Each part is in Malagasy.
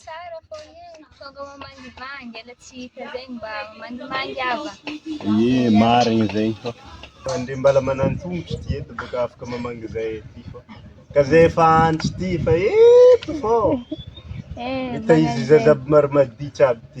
Tsara foana io, tonga mamangivangy, ela tsy hita zay ny mba mangivangy ava. Ie, marigny zay fa. Mandre mbala manan-tongotro ty eto boka afaka mamangy zay ty fa. Ka zay efa andro ty fa eto fô. Eh, Hita izy zaza aby maro maditra aby ty.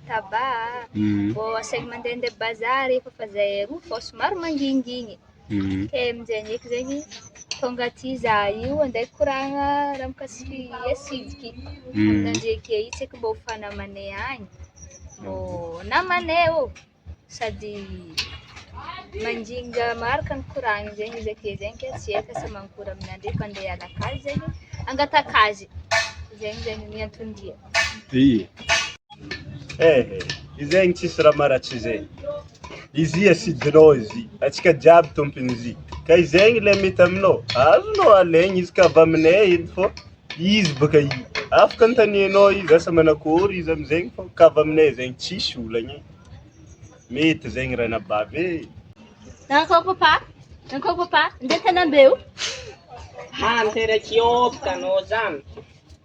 taba a, vao asainy mandehandeha bazary efa fa zay aroa vao somary mangingigny, ke amin'izay ndreky zegny tonga aty za io andeha hikoragna raha mikasiky hasidiky, amin'izay ndreky io tsy eky mbô ho fa namanay agny, mbô namanay ô, sady manginga maro ka mikoragna zegny izy ake zegny ke tsy eka asa mankôry aminà ndreky fa andeha hiala akagny zegny hangataka azy, zegny zegny ny anton-dia. Dia. Eh, izay ny tsisy raha maratsy izay. Izy ia sidinao izy, antsika jiaby tompon'izy. Ka izay ny ilay mety aminao, azonao alaigny izy ka avy aminay edy fô izy baka i. Afaka antanianao izy asa manakôry izy am'zegny fô ka avy aminay zegny tsisy olagna e. Mety zegny ranabavy e. Nankao papa, nankao papa, ndeha an-tanam-be o. Hanteraky ôpta anao zany.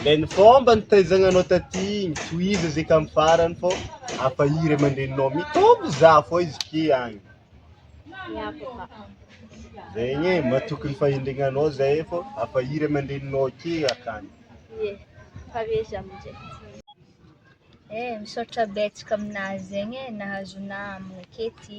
Ilay ny fomba nitaizagnanao taty igny, tohizo izy ka amin'ny farany fô hafa i ray aman-dreninao mitombo zah fô izy ty agny. Zegny e, matoky ny fahendregnanao zahay fô hafa i ray aman-dreninao ty akagny. Ie, pare izy amin'izay. Eh, misaotra betsaka aminà zegny e, nahazo namagna ake ty.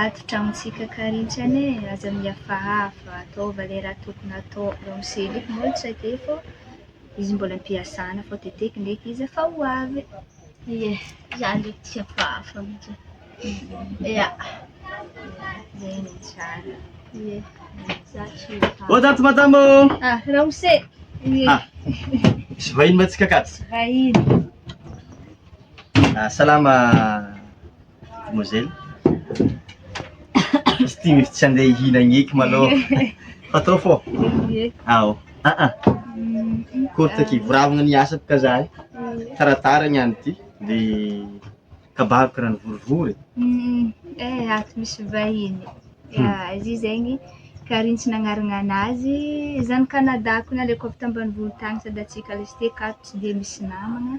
Ady dramontsika karetsy any e! Aza miavahava ataova le raha tokony atao eo am seza eto moa tsy haiko efa izy mbola am-piasana fa teteko ndreky izy efa ho avy ie zany ndreky tsy hafahafa mintsy e! Ia zay no tsara ie za tsy ho avy Ato madama ô! Ah ramose ie Ah misy vahiny mantsika akato Vahiny Ah salama Demoiselle. Izy ity mety tsy handeha hihinagna eky malôha. Fa trop fort. Ye. Ao. Ah ah. Courte aky. Voravagna ny asa boka za eh. Taratara ny andro ty. De kabaro karaha nivorivory. Mm, Eh, ato misy vahiny. Ya, izy io zegny Karintso nagnarana anazy. Zany Canada ko naleko avy tambanivolo tagny sady atsika lesy ty akato tsy dia misy namagna.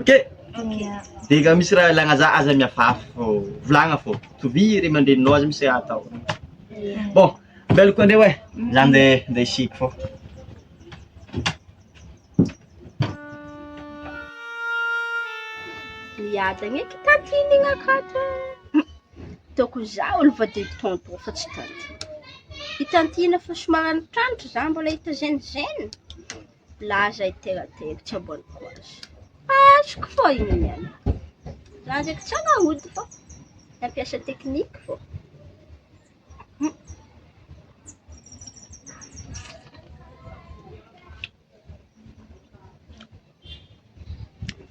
Ok, dia ka misy raha ilagna za aza miafafy fô volagna fô, tovia ray aman-dreninao aza misy raha atao, bon ambela koa ndreo e, za nde nde hisiky fô. Miadagna eky tantine igny akato e, hitako za olo voa de tonto fa tsy tantine, i tantine efa somary antitrantitra za mbola hita gene gene. Laza i Teratera tsy ambonin'ny poids. Azoko fô igny niany. Za ndraiky tsy hanao ody fô nampiasa tekniky fô. Hmm.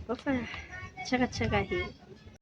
Kofa tsaratsara hely.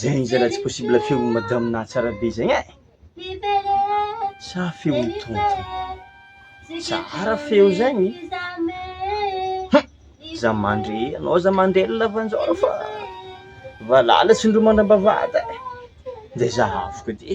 Zegny zalahy tsy possible feon'i madame nahy tsara be zegny eh! Sa feon'i tonton? Tsara feo zegny hum! Za mandry anao za mandry ela lavanjaona fa valala tsindromandra am-bavahady eh! Ndeha zahavo koa ty.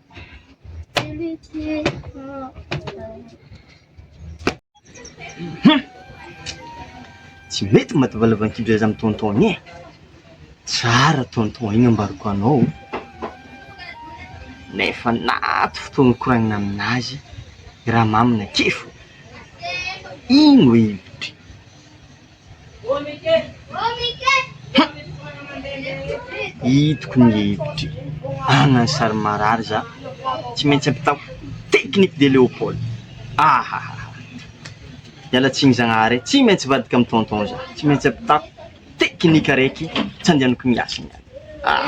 Tsy mety maty valavankibra iza amin'ny tonton eh! Tsara tonton iny ambarako anao nefa naty fotoana nikoragnina aminazy i Ramamy nakify iny hoe hiditra. Hitako ny hevitry agna ny sary marary za tsy maintsy ampitaho technique de Léopold ahahahah miala tsiny zagnahary eh tsy maintsy hivadika amy tonton za tsy maintsy ampitaho technique araiky tsy andehanako miasa niany ah!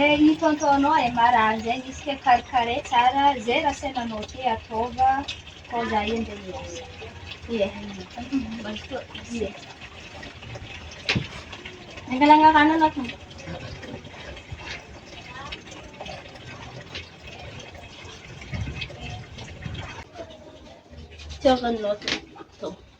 Eeh i tonton anao eh marary zay misy kay karikare tsara zay raha saina anao ty ataova fô za io nde miasa ie ie angalagna rano anao tonton fitiavanao tonton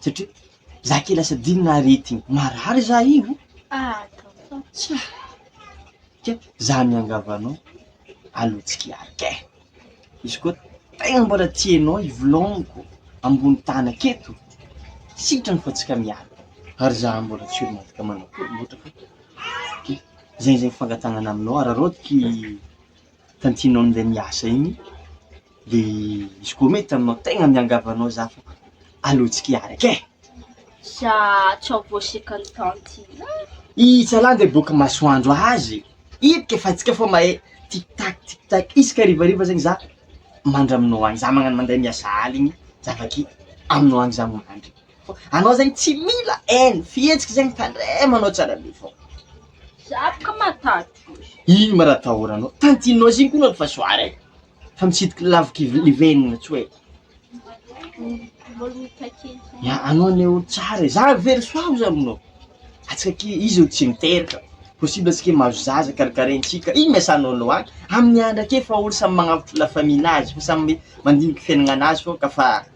Satria za ke lasa adinina aretigny marary za io tsa ke za miangavy anao aleo tsy kiarika eh! izy koa tegna mbola tsy enao i vloniko ambony tany aketo sitrany fa tsika miaraka ary za mbola tsy olo mahavita manakoromotra fa ke zay zay fangatagnana aminao araraotiky Tantinao an'ilay miasa iny dia izy koa mety aminao tegna miangavy anao za fa aleo tsy kiaraka e! Za tsy ampoisiko an'i tantine a! I Itsalahy nge boka masoandro azy ipika fa antsika fô mahay tic tac tic tac isaka harivariva zegny za mandry aminao agny za magnano mandeha miasa aligny za avake aminao agny za mandry. Fa anao zegny tsy mila haine, fihetsika zegny tandremo anao tsara be fô. Za boka matahotahotry. Ino ma raha atahoranao? Tantinao zegny koa anao efa soara e, fa mitsidika lavikiv- livenona tsoa e. Ya anao anie olo tsara e, za very soa ozy aminao, antsika ke izy olo tsy miteraka, possible antsika hoe mahazo zaza karakaraintsika, ino ma iasanao anao any? Amin'ny andra akeo efa olo samy magnavotra la famille nazy fa samy mandinika fiaignananazy fô ka fa.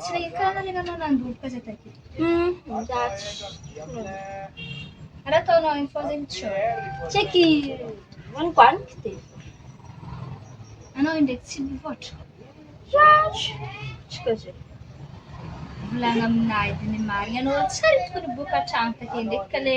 Tsy le karana le nanao nandoro pesa taty. Hum, that's true. Ara ataonao info zegny tsy eo. Tsy eky vanimbaniky de. Anao indraiky tsy mivoatra. Zatra. Tsy ka zay. Volagna aminay de ny marigny anao tsary tokony boka hatrany taty ndraiky ka le